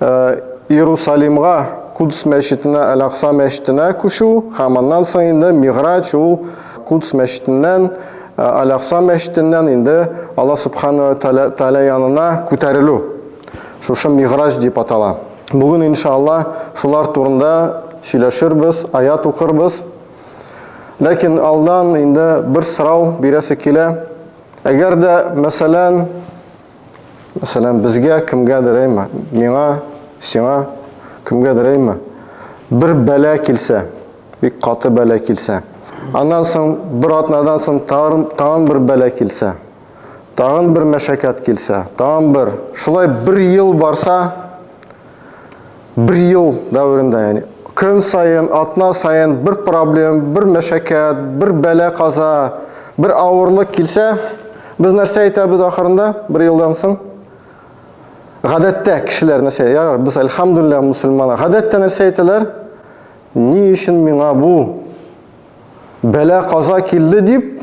Иерусалимга, Кудс мәчетенә, Әл-Акса мәчетенә күчү һәм аннан соң инде Мигъраҗ ул Кудс мәчетеннән, Әл-Акса мәчетеннән инде Алла Субхана ва Тәгалә янына күтәрелү. Шушы Мигъраҗ дип атала. Бүген, иншалла, шулар турында сөйләшербез, аят укырбыз. Ләкин алдан инде бер сорау бирәсе килә. Әгәр дә, мәсәлән, Мәсәлән, безгә кемгәдер әйме, миңа, сиңа, кемгәдер әйме, бер бәлә килсә, бик каты бәлә килсә, аннан соң бер атнадан соң тагын, тагын бер бәлә килсә, тагын бер мәшәкәт килсә, тагын бер, шулай бер ел барса, бер ел дәверендә, яни көн саен, атна саен бер проблем, бер мәшәкәт, бер бәлә каза, бер авырлык килсә, без нәрсә әйтәбез ахырында, бер елдан соң? Гадәттә кешеләр нәрсә, ярар, без әлхәмдулилла мусульман. Гадәттә нәрсә әйтәләр? Ни өчен миңа бу бәлә каза килде дип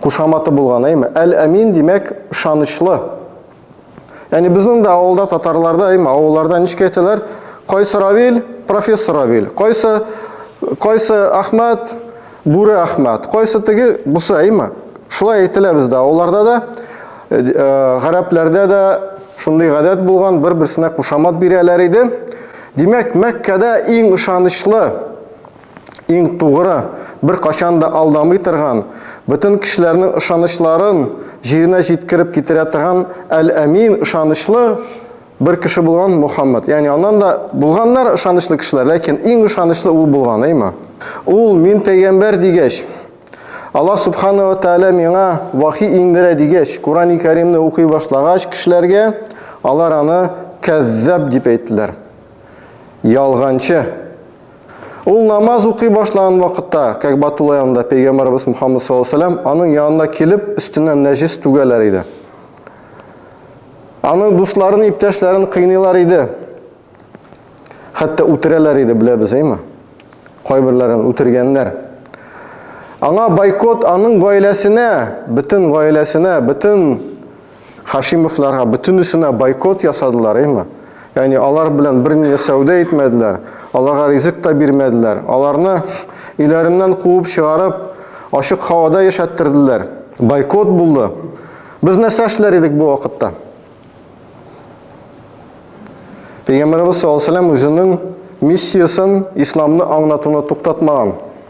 Кушаматы булган, әйме? Әл-Әмин, димәк, ышанычлы. Яни безнең дә авылда татарларда, әйме, авылларда ничек әйтәләр? Кайсы Равил? Профессор Равил. Кайсы кайсы Ахмад? Бүре Ахмад. Кайсы теге? Бусы, әйме? Шулай әйтелә бездә авылларда да, э, э, гарәпләрдә дә шундый гадәт булган, бер-берсенә кушамат бирәләр иде. Димәк, Мәккәдә иң ышанычлы иң тугры, беркайчан да алдамый торган, бөтен кешеләрнең ышанычларын җиренә җиткереп китерә торган Әл-Әмин, ышанычлы бер кеше булган Мөхәммәд. Ягъни аннан да булганнар ышанычлы кешеләр, ләкин иң ышанычлы ул булган, әйме? Ул мин пәйгамбәр дигәч, Аллаһ Субхана ва Тәгалә миңа вахи иңдерә дигәч, Курани Кәримне укый башлагач кешеләргә, алар аны кәззәб дип әйттеләр. Ялганчы. Ул намаз укый башлаган вакытта, Кәгъбә тулы янында пәйгамбәрбез Мухаммад саллаллаһу алейһи ва сәлләм аның янына килеп, өстеннән нәҗис түгәләр иде. Аның дусларын, иптәшләрен кыйныйлар иде. Хәтта үтерәләр иде, беләбез, әйме? Кайберләрен үтергәннәр. Аңа бойкот, аның гаиләсенә, бөтен гаиләсенә, бөтен Хашимовларга бөтенесенә бойкот ясадылар, әйме? Ягъни алар белән берни дә сәүдә итмәделәр, аларга ризык та бирмәделәр, аларны өйләреннән куып чыгарып, ачык һавада яшәттерделәр. Бойкот булды. Без нәрсә эшләр идек бу вакытта? Пәйгамбәребез саллаллаһу алейһи ва сәлләм үзенең миссиясен, исламны аңлатуны туктатмаган.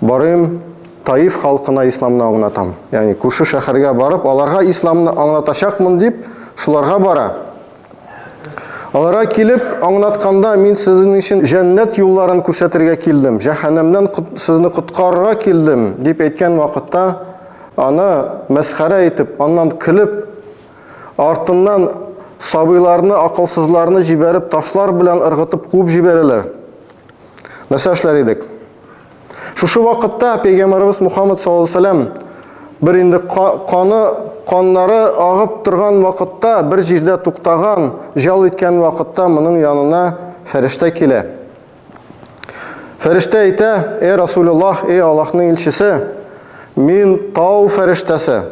Барыйм, Таиф халкына исламны аңлатам. Ягъни күрше шәһәргә барып, аларга исламны аңлатачакмын дип, шуларга бара. Аларга килеп, аңлатканда мин сезнең өчен җәннәт юлларын күрсәтергә килдем, җәһәннәмнән сезне коткарырга килдем дип әйткән вакытта, аны мәсхәрә итеп, аннан көлеп, артыннан сабыйларны, акылсызларны җибәреп, ташлар белән ыргытып куып җибәрәләр. Нәрсә эшләр идек? Шушы вакытта пәйгамбарыбыз Мухаммад саллаллаһу алейһи вәсәлләм бер инде каны каннары агып торган вакытта, бер җирдә туктаган, җал иткән вакытта моның янына фәрештә килә. Фәрештә әйтә: "Эй Расулуллах, эй Аллаһның илчесе, мин тау фәрештәсе.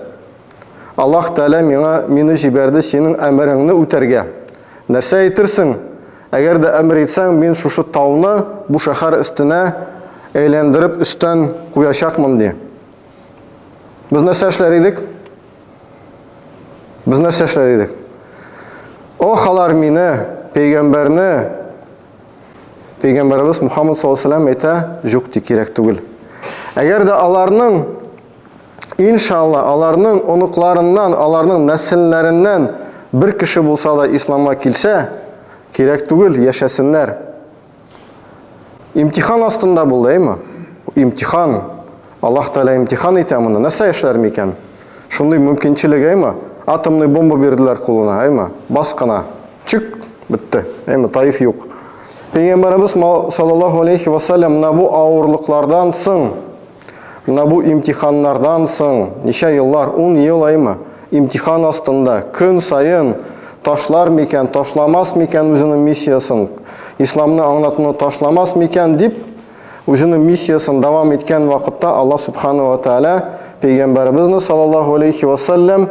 Аллаһ Тәгалә миңа мине җибәрде синең әмереңне үтәргә. Нәрсә әйтерсең? Әгәр дә әмер итсәң, мин шушы тауны бу шәһәр өстенә әйләндереп өстән куячакмын, ди. Без нәрсә эшләр идек? Без нәрсә эшләр идек? Ох, алар мине, пәйгамбәрне, пәйгамбәребез Мухаммад саллаллаху алейһи ва әйтә, юк ди, кирәк түгел. Әгәр дә аларның Иншалла, аларның оныкларыннан, аларның нәселләреннән бер кеше булса да исламга килсә, кирәк түгел, яшәсеннәр. Имтихан астында булды, әйме? Имтихан. Аллаһ Тәгалә имтихан итә моны. Нәрсә эшләр микән? Шундый мөмкинчелек, әйме? Атомный бомба бирделәр кулына, әйме? Бас кына. Чик, бетте. Әйме, Таиф юк. Пәйгамбәребез саллаллаһу алейхи ва саллям менә бу авырлыклардан соң Менә бу имтиханнардан соң, ничә еллар, ун ел аймы, имтихан астында, көн саен ташлар микән, ташламас микән үзенең миссиясен, исламны аңлатуны ташламас микән дип, үзенең миссиясен дәвам иткән вакытта Аллаһ Субхана ва Тәгалә пәйгамбәребезне саллаллаһу алейхи ва сәлләм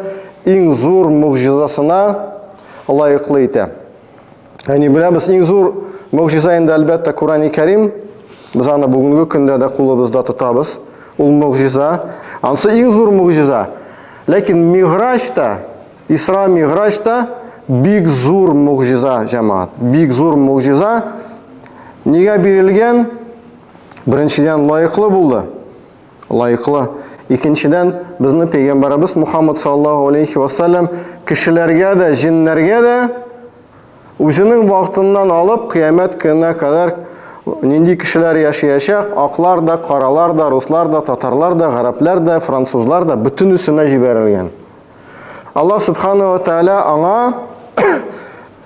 иң зур могҗизасына лаеклы итә. Яни беләбез иң зур могҗиза инде әлбәттә Курани Кәрим. Без аны бүгенге көндә дә кулыбызда тотабыз. Ул могҗиза. Ансы иң зур могҗиза. Ләкин Миграҗ та, Исра Миграҗ та бик зур могҗиза, җәмәгать. Бик зур могҗиза. Нигә бирелгән? Беренчедән лаеклы булды. лаеклы. Икенчедән, безнең пәйгамбәребез Мухаммад саллаллаһу алейхи ва саллям кешеләргә дә, җеннәргә дә үзенең вакытыннан алып кыямәт көненә кадәр нинди кешеләр яшәячәк, аклар да, каралар да, руслар да, татарлар да, гарәпләр дә, французлар да бөтенесенә җибәрелгән. Аллаһ субхана ва тааля аңа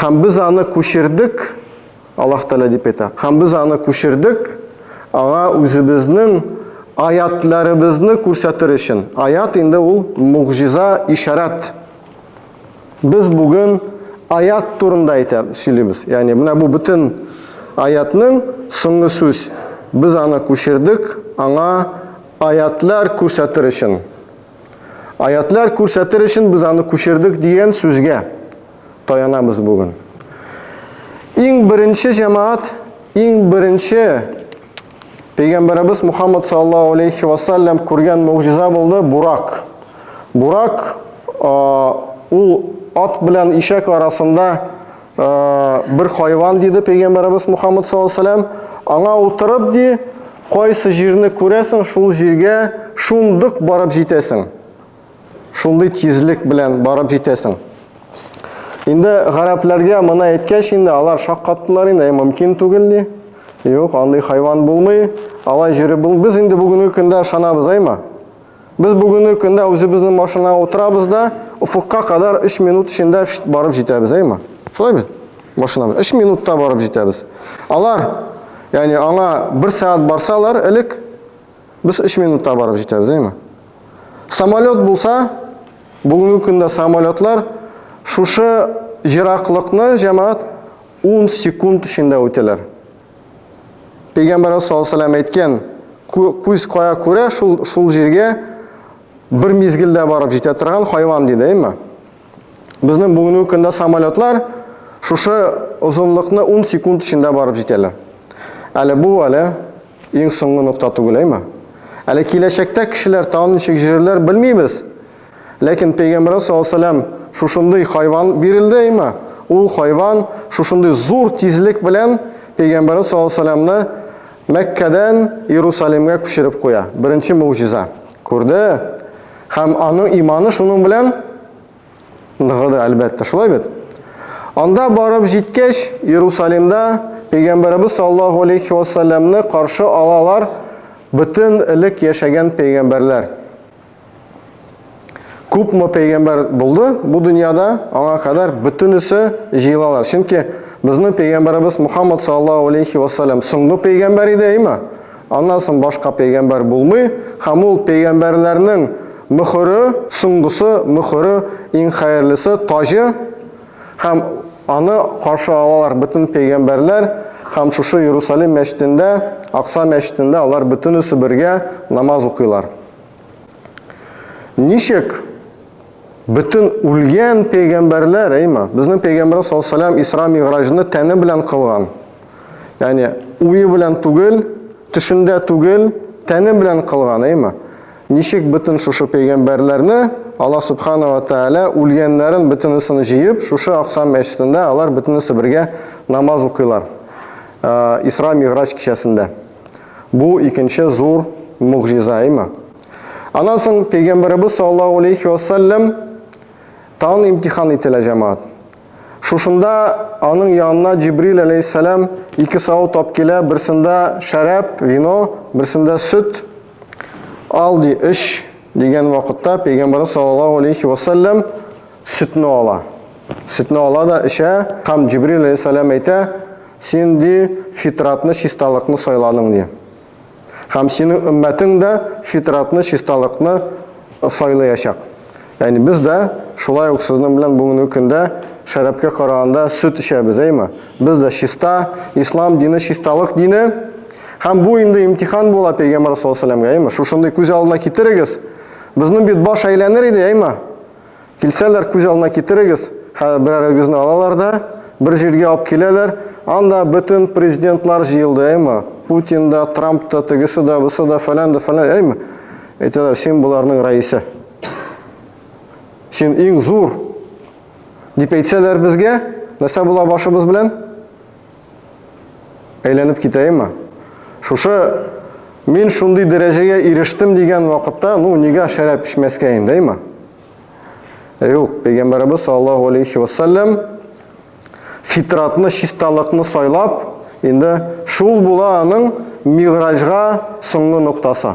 Һәм без аны күчердек, Аллаһ Тәгалә дип әйтә. Һәм без аны күчердек, аңа үзебезнең аятларыбызны күрсәтер өчен. Аят инде ул мугҗиза, ишарат. Без бүген аят турында әйтә сөйлибез. Ягъни менә бу бөтен аятның соңгы сүз. Без аны күчердек, аңа аятлар күрсәтер өчен. Аятьләр күрсәтер өчен без аны күчердек дигән сүзгә таянабыз бүген. Иң беренче җәмәгать, иң беренче Пәйгамбәребез Мухаммад саллаллаһу алейхи ва саллям күргән мөгъҗиза булды Бурак. Бурак ул ат белән ишәк арасында Бер хайван диде пәйгамбәребез Мухаммад саллаллаху алейһи аңа утырып ди, кайсы җирне күрәсең, шул җиргә шундык барып җитәсең. Шундый тизлек белән барып җитәсең. Инде гарәпләргә моны әйткәч, инде алар шаккаттылар инде, мөмкин түгел ди. Юк, андый хайван булмый, алай җире бул. Без инде бүгенге көндә ышанабыз, әйме? Без бүгенге көндә үзебезнең машинага утырабыз да, офыкка кадәр 3 минут эчендә барып җитәбез, әйме? Шулай бит? Машинабыз 3 минутта барып җитәбез. Алар, ягъни аңа 1 сәгать барсалар, элек без 3 минутта барып җитәбез, әйме? Самолет булса, бүгенге көндә самолетлар шушы җираклыкны җәмәгать 10 секунд эчендә үтәләр. Пәйгамбәрбез саллаллаһу алейһи ва әйткән, күз кая күрә, шул шул җиргә бер мизгелдә барып җитә торган хайван диде, әйме? Безнең бүгенге көндә самолетлар шушы озынлыкны 10 секунд эчендә барып җитәләр. Әле бу әле иң соңгы нокта түгел, әйме? Әле киләчәктә кешеләр тагын ничек җирләр белмибез. Ләкин пәйгамбәргә саллаллаһу шушындый хайван бирелде имә. Ул хайван шушындый зур тизлек белән пәйгамбәргә саллаллаһу Мәккәдән Иерусалимгә күчереп куя. Беренче мөгъҗиза. Күрде. Һәм аның иманы шуның белән ныгыды, әлбәттә. Шулай бит? Анда барып җиткәч, Иерусалимда пәйгамбәрбез саллаллаһу алейхи ва каршы алалар бөтен элек яшәгән пәйгамбәрләр. Күпме пәйгамбәр булды бу дөньяда, аңа кадәр бөтенесе җыелалар. Чөнки безнең пәйгамбәребез Мухаммад саллаллаху алейхи ва саллям соңгы пәйгамбәр иде, әйме? Аннан соң башка пәйгамбәр булмый, һәм ул пәйгамбәрләрнең мөхөре, соңгысы, мөхөре, иң хәерлесе, таҗы, һәм аны каршы алалар бөтен пәйгамбәрләр, һәм шушы Иерусалим мәчетендә, Акса мәчетендә алар бөтенесе бергә намаз укыйлар. Ничек бөтен үлгән пәйгамбәрләр, әйма, безнең пәйгамбер саллаллаһу алейһи Исра Мигъраҗны тәне белән кылган. Ягъни уе белән түгел, төшендә түгел, тәне белән кылган, әйма. Ничек бөтен шушы пәйгамбәрләрне Аллаһ субхана ва тааля үлгәннәрен бөтенесен җыеп, шушы Акса мәчетендә алар бөтенесе бергә намаз укыйлар. Исра Мигъраҗ кичәсендә. Бу икенче зур мугъҗизаймы? Аннан соң пәйгамбәребез саллаллаһу алейхи ва саллям тагын имтихан ителә җәмәгать. Шушында аның янына Җибрил алейһиссалам ике сау тап килә, берсендә шәраб, вино, берсендә сөт. Ал ди, эч дигән вакытта пәйгамбәребез саллаллаһу алейхи ва саллям Сөтне ала. Сөтне ала да эчә, һәм Җибрил алейһиссәлам әйтә, син ди фитратны, чисталыкны сайладың ди. Һәм синең өммәтең дә фитратны, чисталыкны сайлаячак. Ягъни без дә шулай ук сезнең белән бүгенге көндә шәрабкә караганда сөт эчәбез, әйме? Без дә чиста, ислам дине чисталык дине. Һәм бу инде имтихан була пәйгамбәр саллаллаху алейһи ва сәлләмгә, әйме? Шушындый күз алдына китерегез. Безнең бит баш әйләнер иде, әйме? Килсәләр, күз алдына китерегез, хәзер берәрегезне алалар да, бер җиргә алып киләләр, анда бөтен президентлар җыелды, әйме? Путин да, Трамп та, тегесе дә, бусы да, фәлән дә, фәлән, әйме? Әйтәләр, син боларның рәисе. Син иң зур. Дип әйтсәләр безгә, нәрсә була башыбыз белән? Әйләнеп китәемме? Шушы мин шундый дәрәҗәгә ирештем дигән вакытта, ну, нигә шәраб эчмәскә инде, әйме? Юк, пәйгамбәребез саллаллаһу алейхи ва саллям фитратны, чисталыкны сайлап, инде шул була аның мигъраҗга соңгы ноктасы.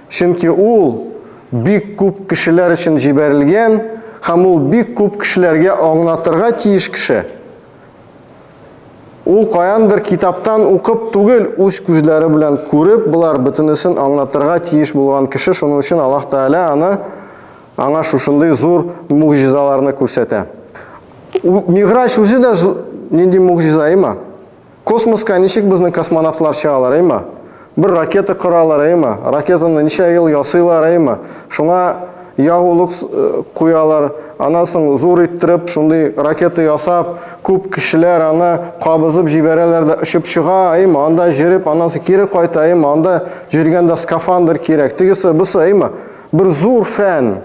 Чөнки ул бик күп кешеләр өчен җибәрелгән һәм ул бик күп кешеләргә аңлатырга тиеш кеше. Ул каяндыр китаптан укып түгел, үз күзләре белән күреп, болар бөтенесен аңлатырга тиеш булган кеше, шуның өчен Аллаһ Тәгалә аны, аңа шушындый зур могҗизаларны күрсәтә. Мигъраҗ үзе дә нинди могҗиза, имма. Космоска ничек безнең космонавтлар чыгалар, әйма? Бер ракета коралар, әйма? Ракетаны ничә ел ясыйлар, әйма? Шуңа ягулык куялар, аннан соң зур иттереп шундый ракета ясап, күп кешеләр аны кабызып җибәрәләр дә очып чыга, әйма? Анда җөреп, аннан соң кире кайта, әйма? Анда җөргәндә скафандр кирәк, тегесе, бусы, әйма? Бер зур фән!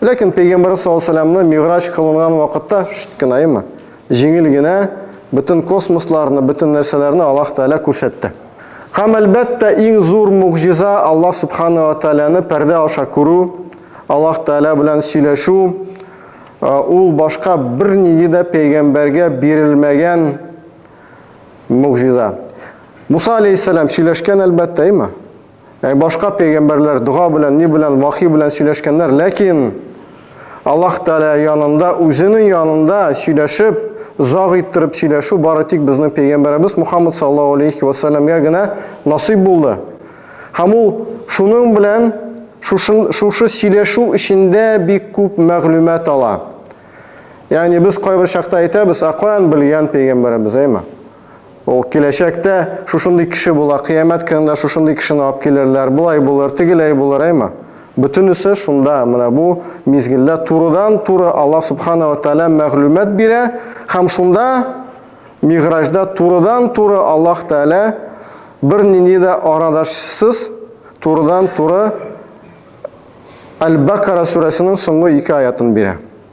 Ләкин пәйгамбәр саллаллаһу миграҗ кылынган вакытта шт кенаймы, җиңел генә бөтен космосларны, бөтен нәрсәләрне Аллаһ Тәгалә күрсәтте. Һәм әлбәттә, иң зур мугҗиза Аллаһ Субхана ва Тәгаләне пәрдә аша күрү, Аллаһ Тәгалә белән сөйләшү, ул башка бернинди дә пәйгамбәргә бирелмәгән мугҗиза. Муса алейхиссалам сөйләшкән әлбәттә, әйме? Яни башка пәйгамбәрләр дога белән, ни белән, вахи белән сөйләшкәннәр, ләкин Аллаһ Тәгалә янында, үзенең янында сөйләшеп, заг иттереп сөйләшү бары тик безнең пәйгамбәребез Мухаммад саллаллаһу алейхи ва саллямга генә насыйп булды. Һәм ул шуның белән шушы шушы сөйләшү эчендә бик күп мәгълүмат ала. Ягъни без кайбер чакта әйтәбез, ә каян белгән пәйгамбәребез, әйме? Ул киләчәктә шушындый кеше була, кыямәт көнендә шушындый кешене алып килерләр, болай булыр, тегеләй булыр, әйме? Бөтенесе шунда, менә бу мизгелдә турыдан-туры Аллаһ Субхана ва Тәгалә мәгълүмат бирә, һәм шунда Мигъраҗда турыдан-туры Аллаһ Тәгалә бернинди дә арадашсыз турыдан-туры Әл-Бакара сүрәсенең соңгы ике аятын бирә.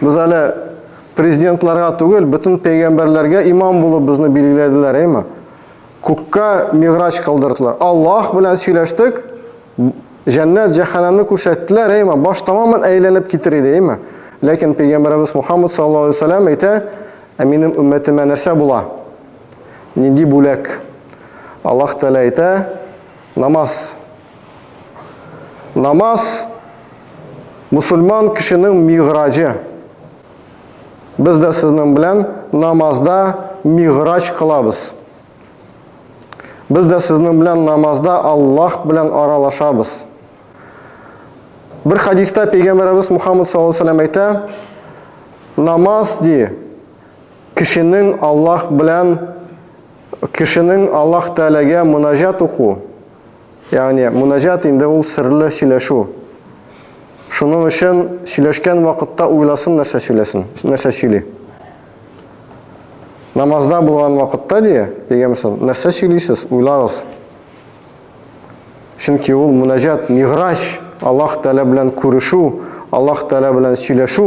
Без әле президентларга түгел, бөтен пәйгамбәрләргә имам булып безне билгеләделәр, әйме? Күккә миграч кылдырдылар. Аллаһ белән сөйләштек, җәннәт, җәһәннәмне күрсәттеләр, әйме? Баш тамамын әйләнеп китер иде, әйме? Ләкин пәйгамбәребез Мухаммад саллаллаһу алейһи ва сәлләм әйтә, ә минем өммәтемә нәрсә була? Нинди бүләк? Аллаһ Тәгалә әйтә, намаз Намаз мусульман кешенең миграҗы. Без дә сезнең белән намазда миграҗ кылабыз. Без дә сезнең белән намазда Аллаһ белән аралашабыз. Бер хадиста пәйгамбәребез Мухаммад саллаллаху алейһи әйтә, намаз ди кешенең Аллаһ белән Кешенең Аллаһ Тәгаләгә мөнәҗәт уку, ягъни мөнәҗәт инде ул серле сөйләшү. Шуның өчен сөйләшкән вакытта уйласын нәрсә сөйләсен, нәрсә сөйли. Намазда булган вакытта ди, пәйгамберсен, нәрсә сөйлисез, уйлагыз. Чөнки ул мөнәҗәт, миграҗ, Аллаһ Тәгалә белән күрешү, Аллаһ Тәгалә белән сөйләшү.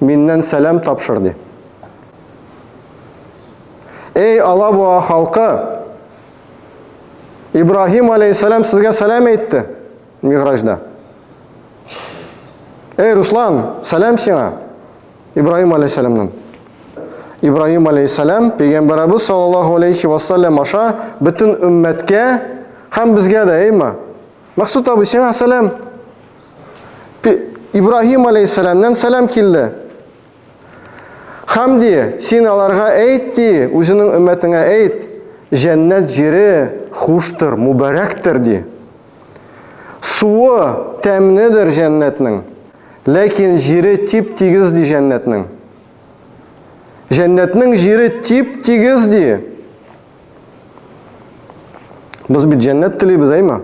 Миннән сәлам тапшыр, ди. Эй, Алабуга халкы! Ибраһим алейһиссәлам сезгә сәлам әйтте Мигъраҗда. Эй, Руслан, сәлам сиңа! Ибраһим алейһиссәламнан. Ибраһим алейһиссәлам пәйгамбәребез саллаллаһу алейхи ва саллям аша бөтен өммәткә һәм безгә дә, әйма. Максут абый, сиңа сәлам! Ибраһим алейһиссәламнән сәлам килде. Хәм ди, син аларга әйт ди, үзенең өммәтеңә әйт, җәннәт җире хуштыр, мубарәктер ди. Суы тәмнедер җәннәтнең, ләкин җире тип-тигез ди җәннәтнең. Җәннәтнең җире тип-тигез ди. Без бит җәннәт телибез, әйме?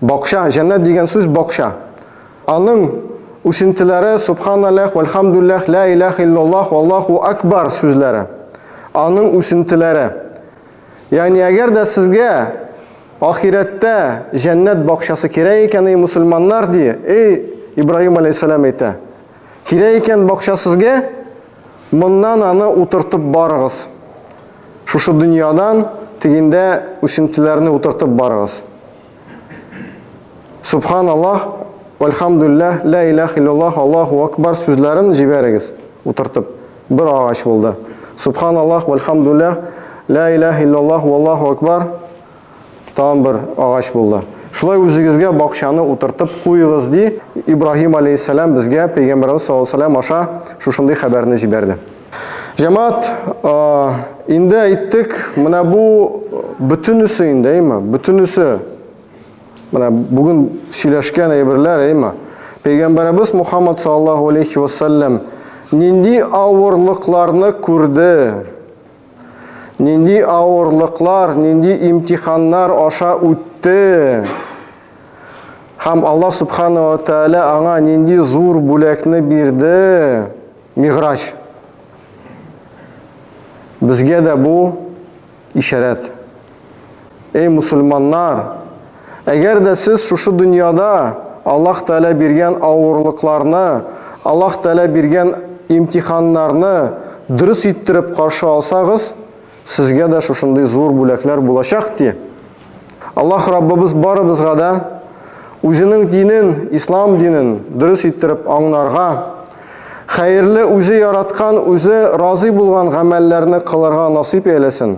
Бакча, җәннәт дигән сүз бакча. Аның үсентеләре субханаллах, вальхамдуллах, ла илах иллаллах, аллаху акбар сүзләре. Аның үсентеләре. Ягъни әгәр дә сезгә ахирәттә җәннәт бакчасы кирәк икән, эй мусульманнар ди, эй Ибраһим алейхиссалам әйтә. Кирәк икән бакча сезгә, Моннан аны утыртып барыгыз. Шушы дөньядан тегендә үсентеләрне утыртып барыгыз. Субханаллах, вәлхамдулләһ, лә иләһ иллаллаһ, Аллаһу акбар сүзләрен җибәрегез, утыртып. Бер агач булды. Субханаллаһ, вәлхамдулләһ, лә иләһ иллаллаһ, валлаһу акбар. Тагын бер агач булды. Шулай үзегезгә бакчаны утыртып куегыз, ди, Ибраһим аләйһиссәлам безгә Пәйгамбәребез саллаллаһу алейһи ва сәлләм аша шушындый хәбәрне җибәрде. Җәмәгать, инде әйттек, менә бу бөтенесе инде, әйме, бөтенесе менә бүген сөйләшкән әйберләр, әйме. Пәйгамбәребез Мухаммад саллаллаһу алейһи ва сәлләм нинди авырлыкларны күрде? Нинди авырлыклар, нинди имтиханнар аша үтте? Һәм Аллаһ Субхану ва Тәгалә аңа нинди зур бүләкне бирде? Миграч. Безгә дә бу ишарәт. Эй мусульманнар! Әгәр дә сез шушы дөньяда Аллаһ Тәгалә биргән авырлыкларны, Аллаһ Тәгалә биргән имтиханнарны дөрес иттереп каршы алсагыз, сезгә дә шушындый зур бүләкләр булачак, ди. Аллаһ Раббыбыз барыбызга да Үзенең динен, Ислам динен дөрес иттереп аңнарга, хәерле, Үзе яраткан, Үзе разый булган гамәлләрне кылырга насыйп әйләсен.